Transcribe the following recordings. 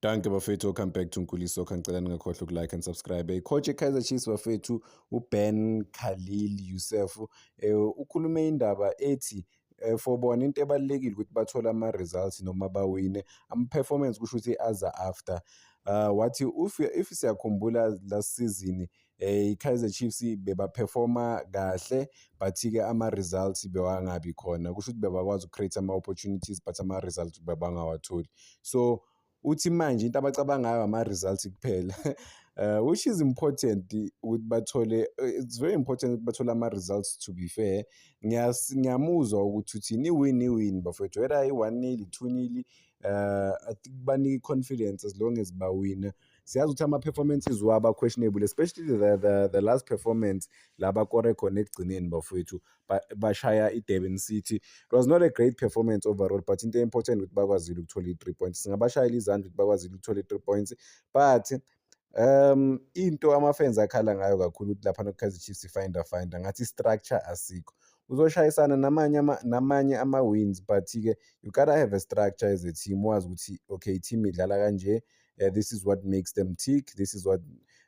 Danke bafethu, welcome back to Nkuli Soccer. Ngicela ningakhohlwa ukulike and subscribe. Eh, coach eKaizer Chiefs bafethu uBen Khalil Youssef eh, ukhulume indaba ethi eh, for bona into ebalulekile ukuthi bathole ama-results noma bawine ama-performance kusho ukuthi aza after uh, wathi if, if siyakhumbula last season eh iKaizer Chiefs bebaperforma kahle but ke ama results bewangabi khona kusho ukuthi bebakwazi ucreate ama opportunities but ama results bebangawatholi so uthi manje into abacabangayo ama results kuphela uh, which is important ukuthi bathole it's very important ukuthi bathole ama results to be fair ngiyamuzwa ukuthi uthini iwin iwin bafowethu whether i-one nil i-two nil uh, i think banika i-confidence as long as bawina siyazi ukuthi ama-performances wabo questionable especially the, the, the last performance la bakore khona ekugcineni bafowethu bashaya i-durban city it was not a great performance overall but into important ukuthi bakwazile ukuthola i-three points singabashayela izandla ukuthi bakwazile ukuthola i-three points but um into ama-fans akhala ngayo kakhulu ukuthi lapha nokukhazi chiefs ifinder finder ngathi i-structure asikho uzoshayisana namanye ama namanye ama-wins but-ke you gotta have a structure as a team wazi ukuthi okay i-team idlala kanje uh, this is what makes them tick this is what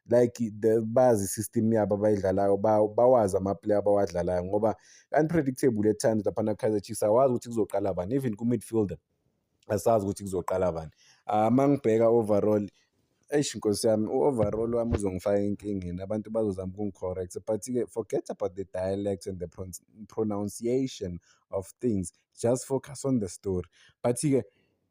like the bazi system yabo abayidlalayo bawazi amaplayer abawadlalayo ngoba unpredictable at times laphana Kaizer Chiefs awazi ukuthi kuzoqala bani even ku midfielder asazi ukuthi kuzoqala bani ah, uma ngibheka overall eish nkosi yami u-overall wami uzongifaka enkingeni abantu bazozama ukungi-correct but-ke forget about the dialect and the pronunciation of things just focus on the story but-ke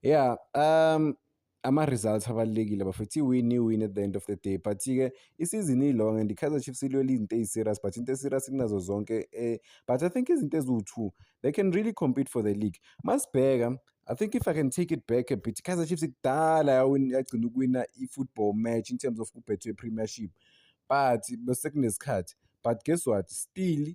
yeah um ama-results abalulekile bafethu iwin iwin at the end of the day but-ke isizini ilong and i-kaizer chiefs ilwela izinto eyi-serious but into e-serious kunazo zonke um but i think izinto eziwu-two they can really compete for the league masibheka i think if i can take it back a bit i-kaizer chiefs kudala yagcina ukuwina i-football match in terms of kubhethwe i-premiership but besekunesikhathi but guess what still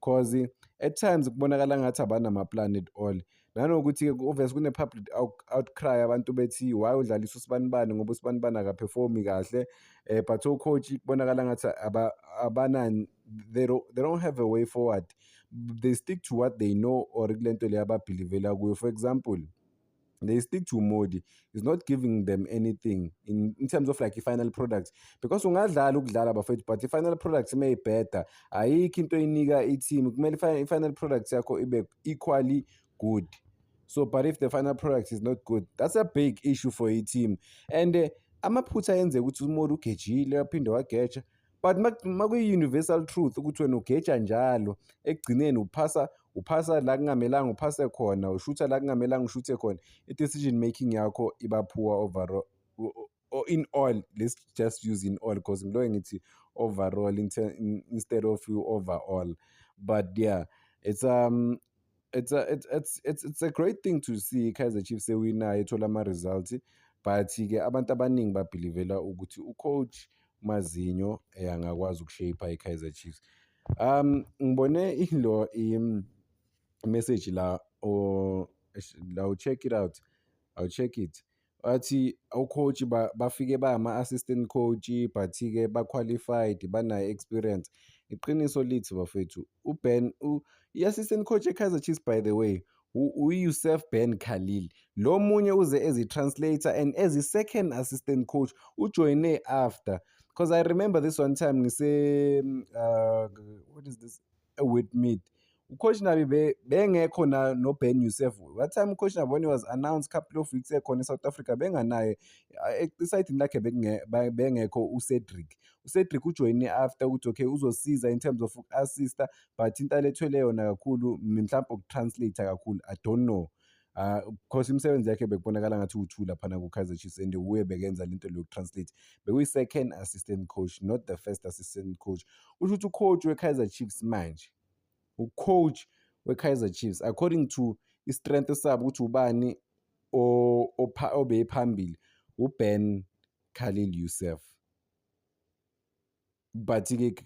cause at times kubonakala ngathi abanamaplan at all nanokuthi-ke ku-obvious kune-public outcry abantu bethi why udlalisa usibanibani ngoba usibanibani akaphefumi kahle um but ocoach kubonakala ngathi abanani they don't have a way forward they stick to what they know or kule nto leyo ababhilivela kuyo for example they stick to modi is not giving them anything in, in terms of like i-final product because ungadlala ukudlala bafethu but i-final product uma ibheda ayikho into eyinika i-team kumele i-final product yakho ibe equally good so but if the final product is not good that's a big issue for i-team and uh, amaphutha ayenzeka ukuthi umodi ugejile waphinde wageja uh, but makuyi-universal truth ukuthi wena ugeja njalo ekugcineni uphasa uphasa la kungamelanga uphase khona ushutha la kungamelanga ushuthe khona i-decision making yakho iba poor overall or in all let's just use in all because ngiloke ngithi overall instead of you overall but yeah it's um it's a, it's, it's, it's, it's a great thing to see Kaizer Chiefs ewinayo ethola ama-results but ke abantu abaningi babhilivela ukuthi ucoach Mazinho eh, angakwazi ukushape i-Kaizer Chiefs um ngibone ilo i-message la or la u-check it out I'll check it Wathi o-coach ba- bafike bangama-assistant coach but-ke ba-qualified banayo experience iqiniso lithi bafethu uben u- i-assistant coach ekaizer chiefs by the way u- uyusef ben khalil lo munye uze ezi-translator and ezi-second assistant coach ujoyine after because i remember this one time ngise uh, what is this e-Wet Meat. UCoach Nabi be, bengekho na noBen Youssef. What time uCoach Nabi when he was announced couple of weeks ekhona eSouth Africa benganaye esayidini lakhe bengekho uCedric. UCedric ujoyine after ukuthi okay uzosiza in terms of uku-assista but into alethwele yona kakhulu mhlawumbe uku-translate kakhulu I don't know. Ah, course imisebenzi yakhe bekubonakala ngathi uwu-two laphana ku-kaizer chiefs and wuye bekenza le nto lokutranslate bekuyi-second assistant coach not the first assistant coach usho ukuthi ucoach we-kaizer chiefs manje ucoach we-kaizer chiefs according to i-strength sabo ukuthi ubani obeyiphambili uben khalil youssef but-ke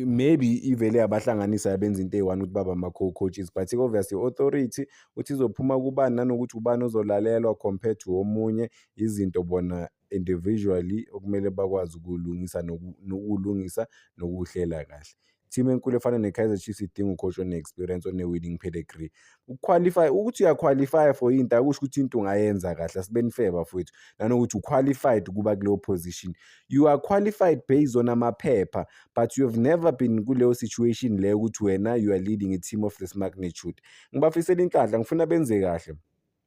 maybe ivele yabahlanganisa yabenza into eyi-one ukuthi baba ama-co-coaches but-ke obviously i-authority ukuthi izophuma kubani nanokuthi ubani ozolalelwa compared to omunye izinto bona individually okumele bakwazi ukulungisa nokulungisa nokuhlela kahle team enkulu efana ne-kaizer chiefs idinga ucoach one-experience one-winning pedigree ukuqualify ukuthi uyaqualify for into akusho ukuthi into ungayenza kahle asibeni fair bafowethu nanokuthi uqualified ukuba kuleyo position you are qualified based on amaphepha but you have never been kuleyo situation leyo ukuthi wena you are leading a team of this magnitude ngibafisela inhlanhla ngifuna benze kahle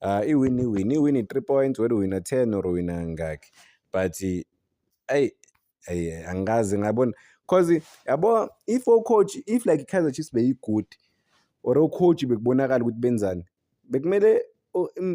Ah, iwin iwin iwin i-three points whether uwina ten or uwina ngakhi but ayi ayi angikaze ngabona cause yabo if ocoach if like i-kaizer chiefs beyi-good or ocoach bekubonakala ukuthi benzani bekumele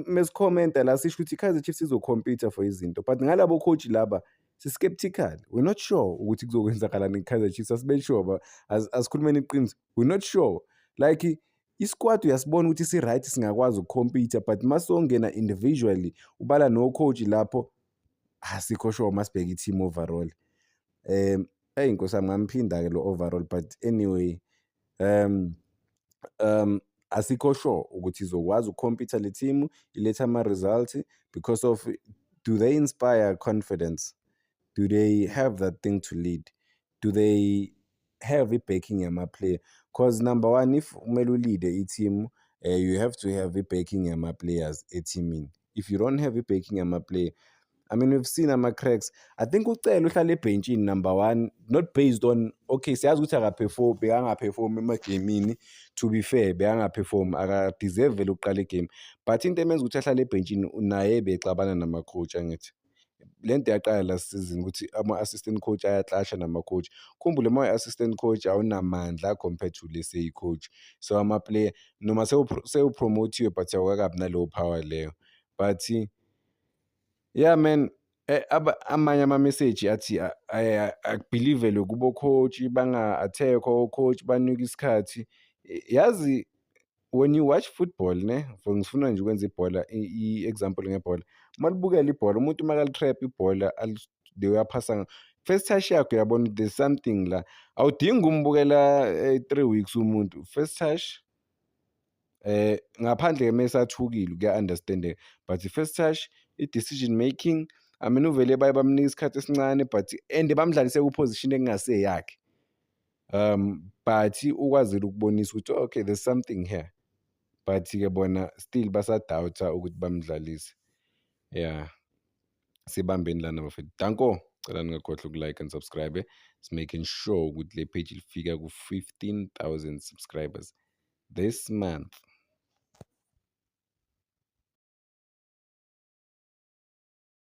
mesikhomenta la sisho ukuthi i-kaizer chiefs izokhompyutha for izinto but ngalabo coach laba si-skeptical we're not sure ukuthi kuzokwenzakalani i-kaizer chiefs asibeli sure asikhulumeni iqiniso we're not sure like isikwati uyasibona ukuthi si-right singakwazi ukukhompitha but uma songena individually ubala no-coach lapho asikho sure uma sibheke i-team overall um eyi nkosi yami ngamphinda-ke lo overall but anyway um um asikho sure ukuthi izokwazi ukukhompitha le team iletha ama-results because of do they inspire confidence do they have that thing to lead do they have i-backing yama-player because number one if kumele ulide i-team uh, you have to have i-backing yama-players ethimini if you don't have i-backing yama-player I mean we've seen ama-cracks I think ucele uhlala ebhentshini number one not based on okay siyazi ukuthi akaperform bekangaperform emagemini to be fair bekangaperform akadeserve vele ukuqala igame but into emenza ukuthi ahlale ebhentshini naye bexabana nama-coach angithi le nto yaqala la season ukuthi ama-assistant coach ayaclasha nama-coach khumbule uma uyi-assistant coach awunamandla compared to le seyi-coach so ama-player noma sewupromothiwe but awukakabi naleyo power leyo but yeah man eh, amanye amameseji athi akubhilivelwe kubo-coach banga-attack o-coach banike isikhathi yazi when you watch football ne for ngifuna nje ukwenza ibhola i-example ngebhola uma libukela ibhola umuntu uma kalitrap ibhola the way aphasa first touch yakho uyabona there's something la awudingi umbukela eh, three weeks umuntu first touch eh ngaphandle ke mesathukile kuya-understandeka but first touch i-decision making I mean uvele baye bamnika isikhathi esincane but and bamdlalise ku-position ekungaseyakhe um but ukwazile ukubonisa ukuthi okay there's something here but ke bona still basadoubt-a ukuthi bamdlalise yeah sibambeni lana bafethu danko cela ningakhohlwa ukulike and subscribe making sure ukuthi le page lifika ku-15000 subscribers this month